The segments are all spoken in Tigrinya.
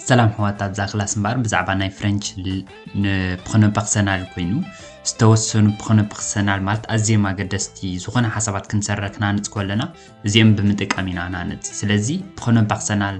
ሰላም ሕዋታት እዛ ክላስ እምበኣር ብዛዕባ ናይ ፍረንች ንፕኾነ ፐርሰናል ኮይኑ ዝተወሰኑ ፕኾነ ፐርሰናል ማለት ኣዝዮም ኣገደስቲ ዝኾነ ሓሳባት ክንሰረ ክናንፅ ከለና እዚኦም ብምጥቃም ኢና ናንፅ ስለዚ ፕኾነ ፐርሰናል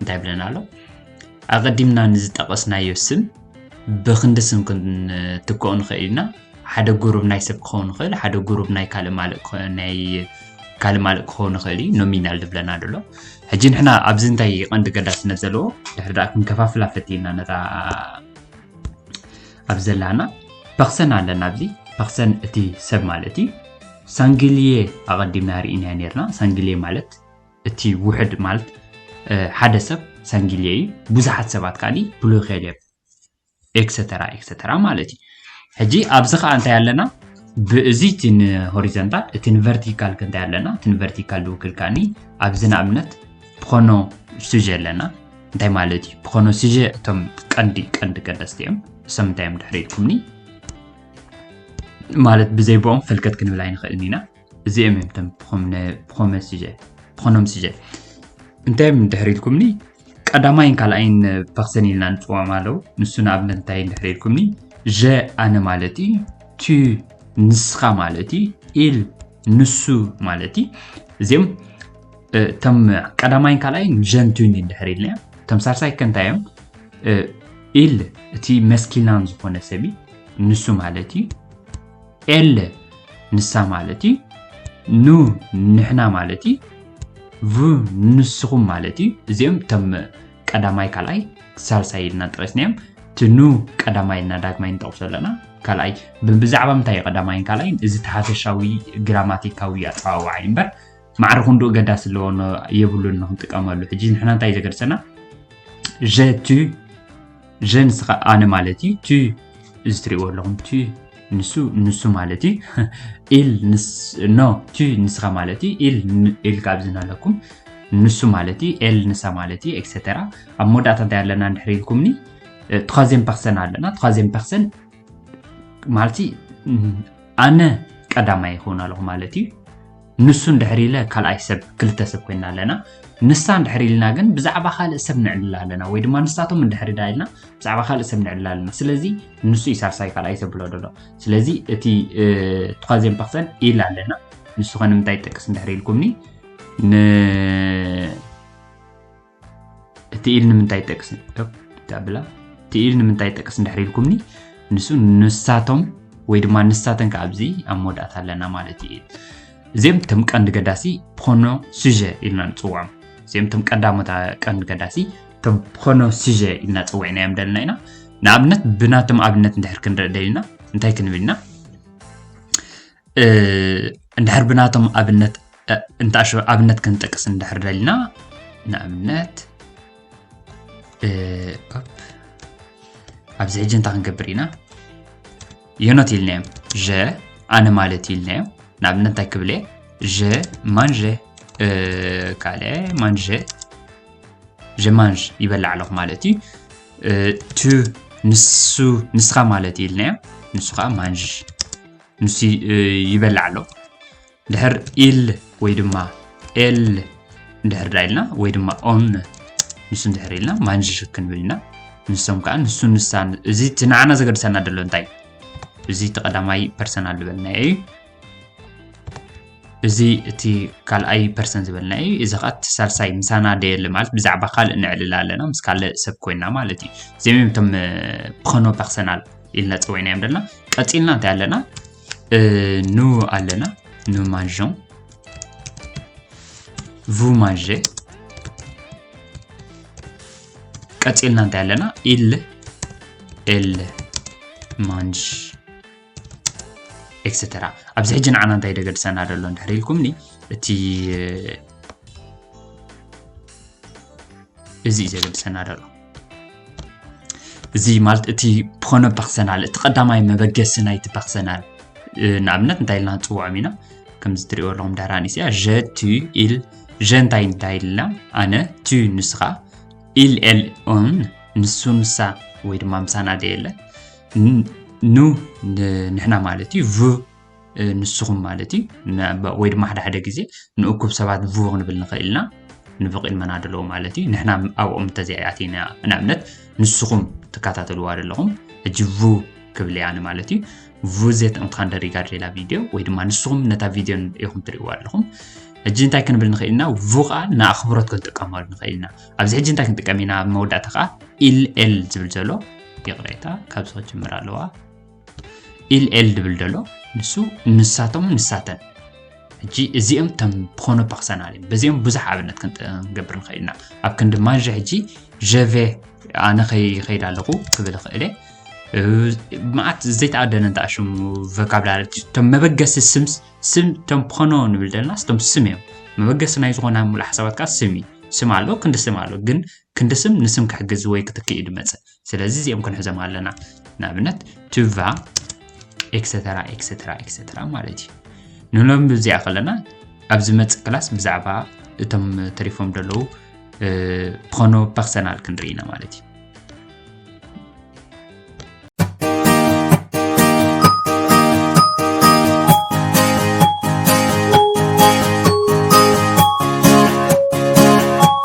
እንታይ ብለና ኣሎ ኣቐዲምና ንዝጠቐስናዮ ስም ብክንዲ ስም ክንትክኦ ንኽእል ኢና ሓደ ጉሩብ ናይ ሰብ ክኸውን ይኽእል ሓደ ጉሩብ ናይ ካልእ ማልእ ናይ ካልእ ማልእ ክኸውን ይኽእል እዩ ኖሚናል ዝብለና ደሎ ሕጂ ንሕና ኣብዚ እንታይ ቀንዲ ገዳስነት ዘለዎ ድሕሪ ደኣ ክንከፋፍላ ፈቲና ነታ ኣብ ዘላና ፐክሰን ኣለና ኣብዚ ፐክሰን እቲ ሰብ ማለት እዩ ሳንግልየ ኣቐዲምና ርኢና ነርና ሳንግልየ ማለት እቲ ውሕድ ማለት ሓደ ሰብ ሰንጊልየ እዩ ብዙሓት ሰባት ካሊ ብሎኬል እዮም ኤክሰተራ ኤክሰተራ ማለት እዩ ሕጂ ኣብዚ ከዓ እንታይ ኣለና ብእዚ እቲ ንሆሪዘንታል እቲ ንቨርቲካል ክንታይ ኣለና እቲ ንቨርቲካል ዝውክል ከዓኒ ኣብዚ ንኣብነት ብኮኖ ሱጀ ኣለና እንታይ ማለት እዩ ብኮኖ ሱጀ እቶም ቀንዲ ቀንዲ ቀደስቲ እዮም እሶም እንታይ እዮም ድሕሪ ኢልኩምኒ ማለት ብዘይብኦም ፈልከት ክንብል ኣይንኽእልን ኢና እዚኦም እዮም እቶም ብኮመ ስጀ ብኾኖም ስጀ እንታይ እዮም ድሕሪ ኢልኩምኒ ቀዳማይን ካልኣይን ፐርሰን ኢልና ንፅዋም ኣለው ንሱ ንኣብነት እንታይ ድሕሪ ኢልኩምኒ ዠ ኣነ ማለት እዩ ቱ ንስኻ ማለት እዩ ኢል ንሱ ማለት እዩ እዚኦም እቶም ቀዳማይን ካልኣይን ዠንቱን እዩ ድሕሪ ኢልና እቶም ሳልሳይ ከ እንታይ እዮም ኢል እቲ መስኪናን ዝኾነ ሰብ እዩ ንሱ ማለት እዩ ኤለ ንሳ ማለት እዩ ኑ ንሕና ማለት እዩ ቭ ንስኹም ማለት እዩ እዚኦም እቶም ቀዳማይ ካልኣይ ሳልሳይ ኢልና ጠቂስናዮም እቲ ኑ ቀዳማይ እና ዳግማይ ንጠቕሶ ኣለና ካልኣይ ብዛዕባ ምንታይ እዩ ቀዳማይን ካልኣይን እዚ ተሓፈሻዊ ግራማቲካዊ ኣፀዋውዓ እዩ እምበር ማዕረ ክንድኡ ገዳሲ ኣለዎ የብሉን ንክንጥቀመሉ ሕጂ ንሕና እንታይ እዩ ዘገድሰና ዠ ቱ ዠ ንስኻ ኣነ ማለት እዩ ቱ እዚ ትሪእዎ ኣለኹም ቱ ንሱ ንሱ ማለት እዩ ኢል ኖ ቱ ንስኻ ማለት እዩ ኢል ኢል ካብ ዝናለኩም ንሱ ማለት እዩ ኤል ንሳ ማለት እዩ ኤክሰተራ ኣብ መወዳእታ እንታይ ኣለና እንድሕር ኢልኩምኒ ትኻዜን ፐርሰን ኣለና ትኻዜን ፐርሰን ማለት ኣነ ቀዳማይ ይኸውን ኣለኹ ማለት እዩ ንሱ እንድሕር ኢለ ካልኣይ ሰብ ክልተ ሰብ ኮይና ኣለና ንሳ እንድሕር ኢልና ግን ብዛዕባ ካልእ ሰብ ንዕልል ኣለና ወይ ድማ ንሳቶም እንድሕር ዳ ኢልና ብዛዕባ ካልእ ሰብ ንዕልል ኣለና ስለዚ ንሱ እዩ ሳልሳይ ካልኣይ ሰብ ብሎ ደሎ ስለዚ እቲ ቱኻዜን ፐርሰን ኢል ኣለና ንሱ ከ ንምንታይ ይጠቅስ እንድሕር ኢልኩምኒ ን እቲ ኢል ንምንታይ ጠቅስ ብላ እቲ ኢል ንምንታይ ጠቅስ እንድሕር ኢልኩምኒ ንሱ ንሳቶም ወይ ድማ ንሳተን ከዓ ኣብዚ ኣብ መወዳእታ ኣለና ማለት እዩ እዚኦም እቶም ቀንዲ ገዳሲ ፕሮኖ ሱጀ ኢልና ንፅውዖም እዚኦም እቶም ቀዳሞት ቀንዲ ገዳሲ እቶም ፕሮኖ ሱጀ ኢልና ፀዊዕናዮም ደለና ኢና ንኣብነት ብናቶም ኣብነት እንድሕር ክንርኢ ደሊና እንታይ ክንብል ኢና እንድሕር ብናቶም ኣብነት እንተኣሸ ኣብነት ክንጠቅስ እንድሕር ደልና ንኣብነት ኣብዚ ሕጂ እንታይ ክንገብር ኢና የኖት ኢልናዮም ዠ ኣነ ማለት ኢልናዮ ንኣብነት እንታይ ክብል እየ ዠ ማንዠ ካለ ማንዠ ዠ ማንዥ ይበላዕ ኣለኹ ማለት እዩ ቱ ንሱ ንስኻ ማለት ኢልናዮ ንሱ ከዓ ማንዥ ንሱ ይበልዕ ኣሎ ድሕር ኢል ወይ ድማ ኤል እንድሕር ዳ ኢልና ወይ ድማ ኦን ንሱ እንድሕር ኢልና ማንዥ ክንብል ኢና ንሶም ከዓ ንሱ ንሳ እዚ እቲ ንዓና ዘገድሰና ደሎ እንታይ እዚ እቲ ቀዳማይ ፐርሰናል ዝበልናዮ እዩ እዚ እቲ ካልኣይ ፐርሰን ዝበልና እዩ እዚ ከዓ እቲ ሳልሳይ ምሳና ደየለ ማለት ብዛዕባ ካልእ ንዕልል ኣለና ምስ ካልእ ሰብ ኮይና ማለት እዩ እዚኦም እዮም እቶም ፕኸኖ ፐርሰናል ኢልና ፀዊዕናዮም ዘለና ቀፂልና እንታይ ኣለና ኑ ኣለና ኑ ማንዦን ቭ ማንዤ ቀፂልና እንታይ ኣለና ኢል ኤል ማንጅ ኤክስተራ ኣብዚ ሕጂ ንዓና እንታይ ደገድሰና ደሎ እንድሕር ኢልኩምኒ እቲ እዚ እዩ ዘገድሰና ደሎ እዚ ማለት እቲ ፖነ ፐርሰናል እቲ ቀዳማይ መበገሲ ናይቲ ፐርሰናል ንኣብነት እንታይ ኢልና ንፅውዖም ኢና ከምዚ ትሪእዎ ኣለኹም ዳራ ኣንስያ ዠ ቱ ኢል ዠ እንታይ እንታይ ኢልና ኣነ ቱ ንስኻ ኢል ኤል ኦን ንሱ ንሳ ወይ ድማ ምሳና ደየለ ኑ ንሕና ማለት እዩ ቭ ንስኹም ማለት እዩ ወይ ድማ ሓደ ሓደ ግዜ ንእኩብ ሰባት ቡቕ ንብል ንኽእል ኢና ንብቕ ኢልመና ደለዎ ማለት እዩ ንሕና ኣብኦም እንተዘይኣቲና ንኣብነት ንስኹም ትከታተልዋ ዘለኹም ሕጂ ቡ ክብል እያ ማለት እዩ ቡ ዘየጠቕምትካ እንደሪጋ ድሌላ ቪድዮ ወይ ድማ ንስኹም ነታ ቪድዮ ኢኹም ትርእዋ ኣለኹም ሕጂ እንታይ ክንብል ንኽእል ኢና ቡ ከዓ ንኣኽብሮት ክንጥቀመሉ ንኽእል ኢና ኣብዚ ሕጂ እንታይ ክንጥቀም ኢና ኣብ መወዳእታ ከዓ ኢል ኤል ዝብል ዘሎ ይቕሬታ ካብዚ ክጅምር ኣለዋ ኢልኤል ድብል ደሎ ንሱ ንሳቶም ንሳተን ሕጂ እዚኦም ተም ብኾነ ፐርሰናል እዮም በዚኦም ብዙሕ ኣብነት ክንገብር ንኽእል ኢና ኣብ ክንዲ ማንዣ ሕጂ ዠቬ ኣነ ከይኸይድ ኣለኹ ክብል ይኽእል መዓት ዘይተኣደነ እንተኣ ሽሙ ቮካብላሪ እቶም መበገሲ ስም ስም እቶም ብኾኖ ንብል ዘለና ስቶም ስም እዮም መበገሲ ናይ ዝኾነ ሙሉእ ሓሳባት ከዓ ስም እዩ ስም ኣሎ ክንዲ ስም ኣሎ ግን ክንዲ ስም ንስም ክሕግዝ ወይ ክትክእ እዩ ድመፅእ ስለዚ እዚኦም ክንሕዞም ኣለና ንኣብነት ቱቫ ኤክሰተራ ኤክሰተራ ኤክሰተራ ማለት እዩ ንሎም ብዚኣ ከለና ኣብ ዝመፅእ ክላስ ብዛዕባ እቶም ተሪፎም ዘለዉ ብኾኖ ፐርሰናል ክንርኢ ኢና ማለት እዩ